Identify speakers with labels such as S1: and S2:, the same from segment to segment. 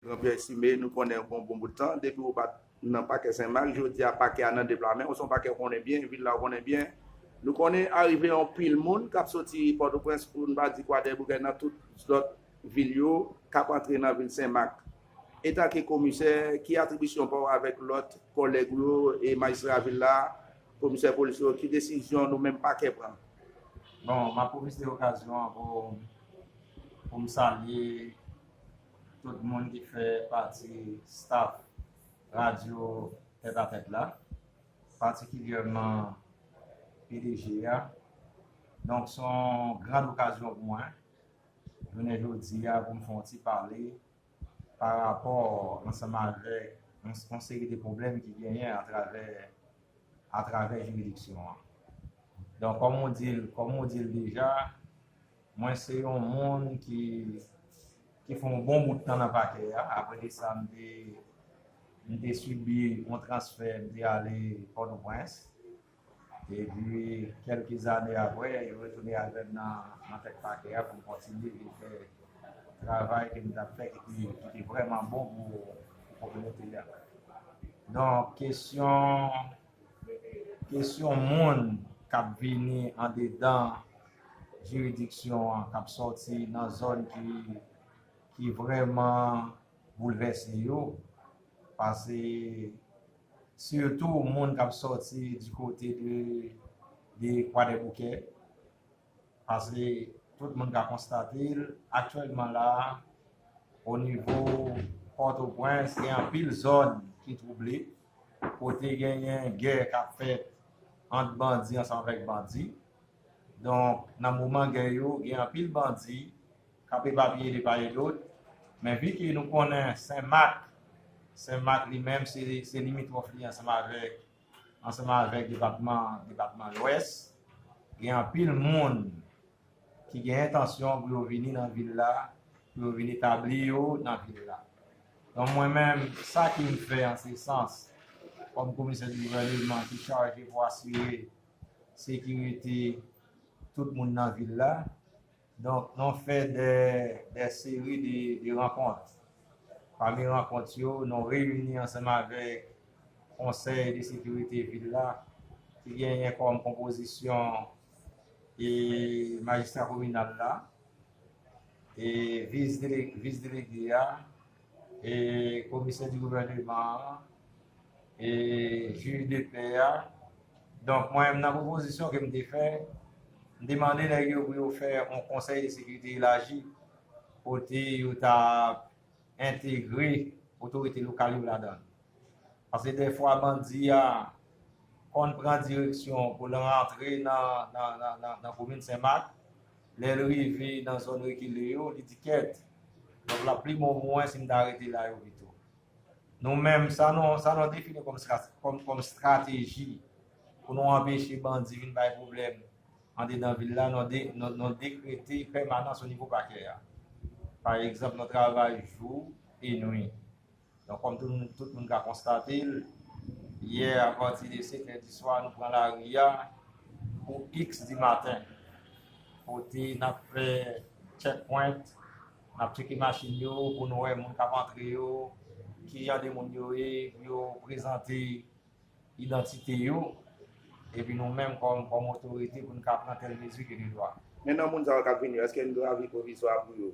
S1: Jean Pierre Cime, Nou konnenw pou yon bon bout tan, depi ou pat nan pakè Senmak, jodi a pakè a nan de pla menw, se yon pakè ou konnen byen, vil la ou konnen byen. Nou konnen arive yon pil moun kap soti Pòtoprens poun pa di Kwadèboukè nan tout zlòt vil yo kap antre nan vil Senmak. Etanke komisè, ki atribisyon paw avèk lòt kòlèg ou yo e majistra vil la, komisè polis yo, ki desizyon nou menm pakè pran? Bon, map
S2: pwofite okazyon an pou poum salye. tout moun ki fè pati staf radyo Tèt a Tèt la, patikilyèman pdg a. Donk se yon gran okazyon pou mwen jounen jodi a pou m fè yon ti pale parapò ansanm avèk yon seri de pwoblèm ki genyen atravè jiridiksyon an. Donk kòm ou di l deja. Mwen se yon moun ki ki fè yon bon bout tan nan pakè a. Aprè de sa, m te m te sibi yon transfè, m te ale Pòtoprens. E pi, kèlke zane aprè, yo retounen avè m nan nan tèt pakè a pou m kontinye vin fè travay ke m t ap fè ki te ki te vrèman bon pou pou kominote a. Donk, kesyon. Kesyon moun k ap vini andedan jiridiksyon an, k ap sòti nan zòn ki vrèman boulvèse yo, pase sitou moun k ap sòti di kote de Kwadèboukè. Paske tout moun ka konstate l, aktyèlman la a, onivo Pòtoprens, gen anpil zòn ki twouble, kote genyen gè k ap fèt ant bandi ansanm avèk bandi. Donk, nan moman gè yo, gen anpil bandi k ap epapiye de pa e dot. Men viki nou konnen Sen Mak, Sen Mak li menm se limitwòf li ansanm avèk ansanm avèk depatman depatman lwès gen anpil moun ki gen entansyon pou yo vini nan vil la pou yo vini tabli yo nan vil la donk mwen menm sa ki m fè an se sans kòm komisè di gouvèneman ki chaje pou asire sekirite tout moun nan vil la. Donk nou fè dè seri de rankont. Pami rankont yo, nou reyini ansanm avèk konsèy de sekirite vil la ki genyen kòm konpozisyon e majistra kominal la, e vis delege a, e komisè di gouvèneman an, e jij de pè a, donk mwen menm nan pwopozisyon ke m te fè, m te mande nèg yo pou yo fè yon konsèy de sekirite elaji, kote yo ta entegre otorite lokal yo ladan l. Paske dèfwa bandi a konn pran direksyon pou l rantre nan komin Senmak, Lè l rive nan zòn rekile yo, li di kèt, donk l ap pi bon pou mwen si m ta rete la yo pito. Nou menm, sa nou defini kòm estrateji pou nou anpeche bandi vin bay pwoblèm andedan vil la, nou dekrete pèmanans onivo pakè a. Pa egzanp, nou travay jou e nwi. Donk kòm tout moun ka konstate l, yè apati de 5 è di swa nou pran lari a pou x di maten kote n ap fè check point, n ap cheke machin yo pou nou wè moun k ap antre yo, kijan de moun yo ye pou yo prezante. idantite yo epi nou menm kòm otorite pou n ka pran tèl mezi ke de dwa. Men nan moun sa yo k ap vini
S1: yo, èske n dwe avi pwovizwa pou yo?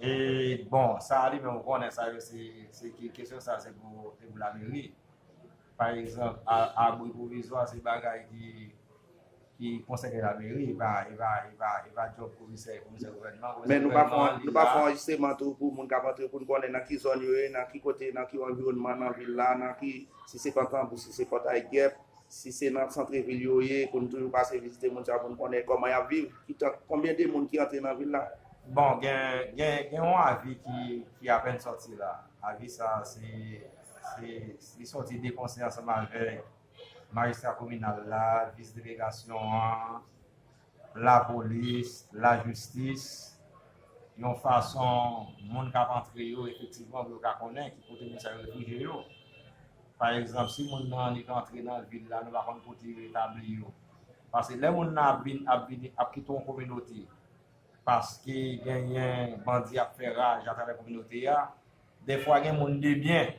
S1: E
S2: bon, sa a li menm ou konnen sa yo se, se ke kesyon sa a se pou, se pou lameri. Pa egzanp, abri pwovizwa se bagay ki. Ki konsèy ke lameri epa epa epa epa job komisè komisè gouvènman komisè Men nou pa fon
S1: nou pa fon anjistreman tou pou moun kap antre poun konnen nan ki zòn yo ye nan ki kote nan ki anviwònman nan vil la nan ki si se kankanbou si se pòtay gèp si se nan santre vil yo ye pou nou toujou pase vizite moun sa poun konnen kòman yap viv ki tan konbyen de moun ki antre nan vil la. Bon gen
S2: gen gen yon avi ki ki apèn sòti la avi sa se se li sòti de konsè ansanm avèk majistra kominal la, vis delegasyon an, lapolis, lajistis, yon fason moun k ap antre yo efektivman pou yo ka konnen ki kote moun sa yo refouje yo. Pa egzanp, si moun nan annik antre nan vil la, nou pa konn kote yo etabli yo. Pase lè moun nan ap vini, ap kite yon kominote, paske genyen bandi ap fè raj atravè kominote a, defwa gen moun debyen.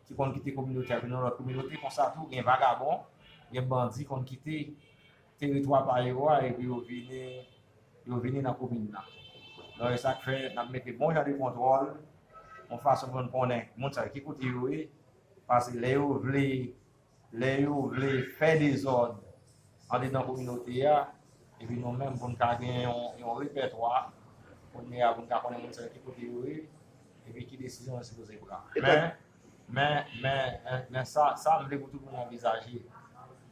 S2: ki konn kite kominote a vin yon lòt kominote konsa tou gen vagabon, gen bandi konn kite teritwa pa yo a epi yo vini yo vini nan komin nan. Donk e sa k fè n ap mete bon jan de kontwòl yon fason pou n konnen moun sa yo ki kote yo ye pase lè yo vle Lè yo vle fè dezòd andedan kominote a, epi nou menm pou n ka gen yon repètwa, kounye a pou n ka konnen moun sa yo ki kote yo ye, epi ki desizyon yo sipoze pran. Men, men, men sa, sa m vle pou tout moun anvizaje.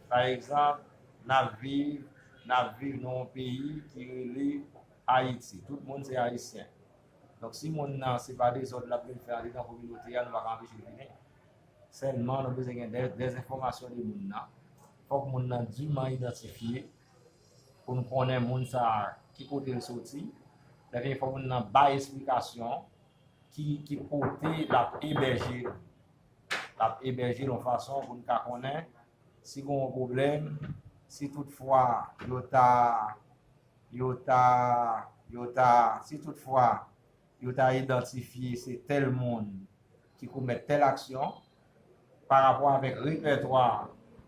S2: Pa egzanp, n ap viv, n ap viv nan yon peyi ki rele Ayiti. Tout moun se Ayisyen. Donk si moun nan se pa dezòd l ap vin fè andedan kominote a, nou pa ka anpeche l vini. Sèlman nou bezwen gen de enfòmasyon de moun nan. Fòk moun nan diman idantifye pou nou konnen moun sa ki kote l soti. Lè vini fòk moun nan bay esplikasyon ki kote l ap ebèje. L ap ebèje l yon fason pou nou ka konnen si gen yon pwoblèm, si tout fwa yo ta, yo ta, yo ta, si tout fwa Yo ta idantifye se tèl moun ki komèt tèl aksyon, pa rapò avèk repètwa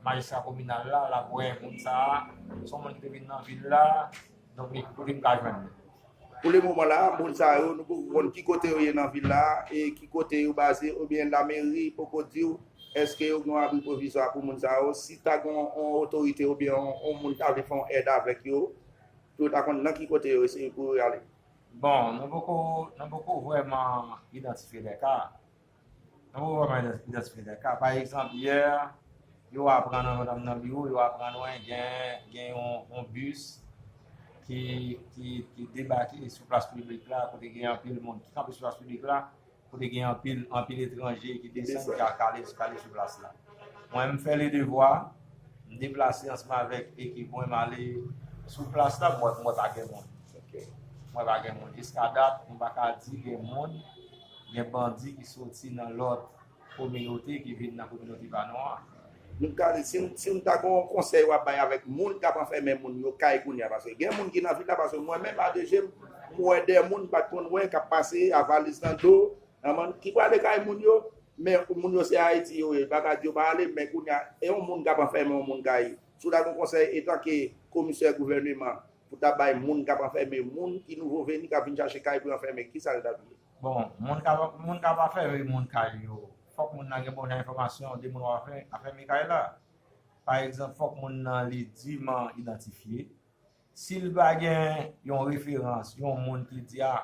S2: majistra kominal la, l ap wè moun sa a s on moun ki te vin nan vil la, donk li kote m ka jwenn li. Pou le
S1: moman la, moun sa yo nou poko konn ki kote yo ye nan vil la e ki kote yo baze oubyen lameri poko di w èske yo gen yon abri pwovizwa pou moun sa yo. Si ta gen yon otorite oubyen yon moun ta vle fè yon èd avèk yo, pou yo ta konn nan ki kote yo eseye pou yo ale. Bon,
S2: nou poko, nou poko vrèman idantifye de ka. Nou poko vrèman idantifye de ka. Pa egzanp, yè, yo aprann yon dam nan biwo, yo aprann wen gen, gen yon bis ki, ki, ki debake sou plas piblik la, kote gen anpil moun ki kanpe sou plas piblik la, Kote gen anpil, anpil etranje ki desann ki ka kale, kale sou plas la. Mwen m fè le devwa, m deplase ansanm avèk ekip mwen, m ale sou plas la, m wè mwen pa gen moun. Mwen pa gen moun. Jiska dat, m pa ka di gen moun, gen bandi ki soti nan lòt kominote ki vin nan kominote pa nou an. Nou ta di
S1: si si nou ta gen yon konsèy wap bay avèk moun kap anfèmen moun yo kay kounya paske gen moun ki nan vil la paske mwen menm a de jem m wè de moun m pat konn wè kap pase a valiz nan do nan ki prale kay moun yo men moun yo se ayiti yo ye pa ta di yo pa ale men kounya e yon moun kap anfèmen yon moun kay si w ta gen yon konsèy etanke komisè gouvèneman pou ta bay moun kap anfèmen moun ki nouvo veni kap vin chache kay pou yo anfèmen kisa l tap ye. Bon moun kap
S2: moun kap anfèmen moun kay yo Fòk moun nan gen bon jan enfòmasyon de moun w ap afème kay la. Pa egzanp, fòk moun nan li diman idantifye. Si l pa gen yon referans, yon moun ki di a,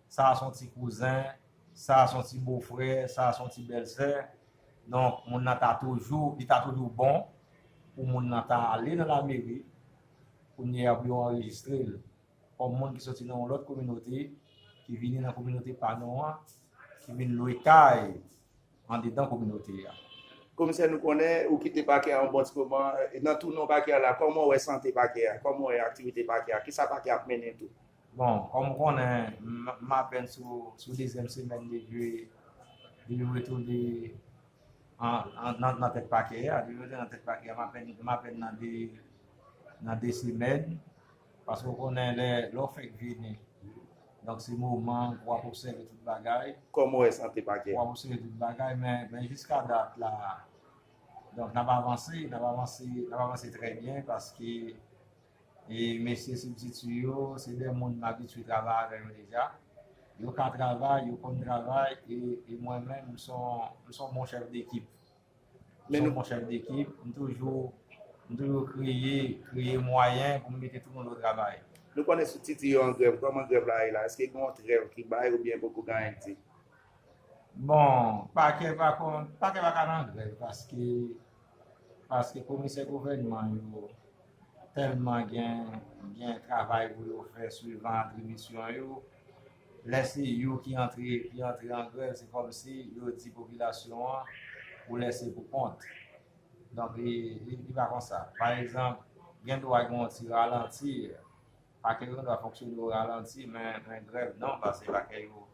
S2: sa a se yon ti kouzen, sa a se yon ti bofrè, sa a se yon ti bèlsè, donk moun nan ta toujou, li ta toujou bon pou moun nan ta ale nan lameri kounye a pou yo anrejistre l. kòm moun ki soti nan yon lòt kominote, ki vini nan kominote pa nou an, ki vin lwe kay andedan kominote a. Komisè
S1: nou konnen ou kite pakè a yon bon ti moman, nan tou non pakè a la, kòman w wè sante pakè a, kòman w wè aktivite pakè a, kisa pakè a ap mennen tou? Bon, kòm ou
S2: konnen, m apèn sou dezyèm semèn depi m retounen nan tèt pakè a, depi m retounen nan tèt pakè a, m apèn nan 2 semèn, Paske ou konnen lè ou fèk vini, donk se moman pou wap obsève tout bagay. Kòman ou wè sante pakè
S1: a? Pou wap obsève tout bagay
S2: men jiska dat la, donk nap avanse, nap avanse, nap avanse trè byen paske mesye sibtiti yo se de moun m abitye travay avè yo deja. Yo ka travay, yo konn travay e mwen menm m son bon chèf dekip. Mwen son bon chèf dekip, m toujou m toujou kreye kreye mwayen pou m mete tout moun o travay. Nou konnen sou TT
S1: yo an grèv, kòman grèv la ye la? Eske gen yon trèv ki bay oubyen poko gen anyen k di?
S2: Bon, pakè pa konn, pakè pa ka nan grèv paske paske komisè gouvènman yo tèlman gen gen travay pou yo fè swivan atribisyon yo. Lè se yo ki antre ki antre an grèv se kòmsi yo di popilasyon an ou lèse pou kont. Donk li li pa konsa. Pa egzanp gen dwa gen yon ti ralanti, pake yo gen dwa fonksyone o ralanti men men grèv non pase pake yo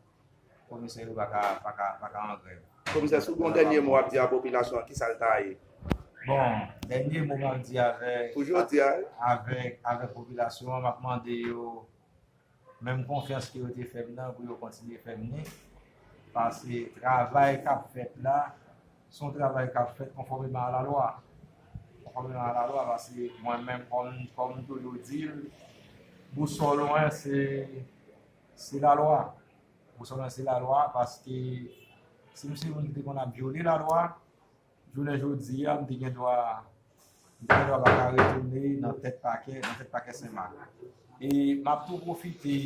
S2: komisè yo paka paka paka an grèv. Komisè si w gen yon dènye
S1: mo ap di a popilasyon an kisa l ta ye? Bon
S2: dènye mo m ap di avèk pou jodi a avèk avèk popilasyon an m ap mande yo Menm konfyans ke yo te fè m nan pou yo kontinye fè m ni, paske travay k ap fèt la, se yon travay k ap fèt konfòmeman a lalwa. Konfòmeman a lalwa paske mwen menm kòm m toujou di l, bousòl mwen se lalwa. Bousòl mwen se lalwa paske si m se yon moun ki te konn ap vyole lalwa, Jounen jodi a, m te gen dwa pa ka retounen nan tèt pakè, nan tèt pakè Senmak. E m ap tou pwofite,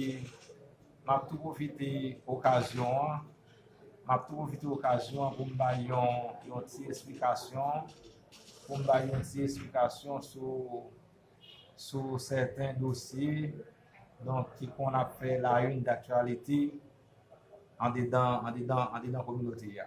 S2: m ap tou pwofite okazyon an, m ap tou pwofite okazyon an pou m bay yon ti esplikasyon, pou m bay yon ti esplikasyon sou sèten dosye donk ki konn ap fè la youn daktyalite andedan, andedan, andedan kominote a.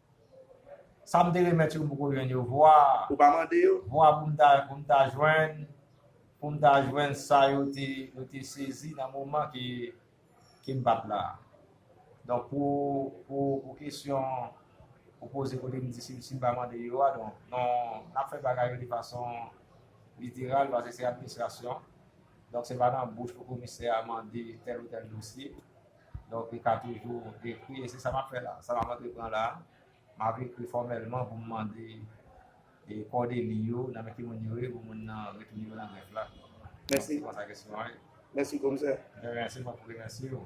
S2: Sa m te remèt yo m poko jwenn yo vwa. Ou pa mande yo? Vwa
S1: pou m ta pou m ta
S2: jwenn pou m ta jwenn sa yo te yo te sezi nan moman ke ke m pa t la. Donk pou pou pou kesyon ou poze kote m di si si m pa mande yo a donk non n ap fè bagay yo de fason literal paske se administrasyon donk se pa nan bouch pou komisè a mande tèl ou tèl dosye. Donk li ka toujou ekri, e se sa m ap fè la. Sa m ap antre pran la, m ap ekri fòmèlman pou m mande kòde li yo, nan men ki moun yo ye, pou moun nan retounen yo nan grèf la. Mèsi.
S1: Se konsa
S2: kesyon an ye. Mèsi komisè.
S1: De ryen, se
S2: mwen pou remèsye ou.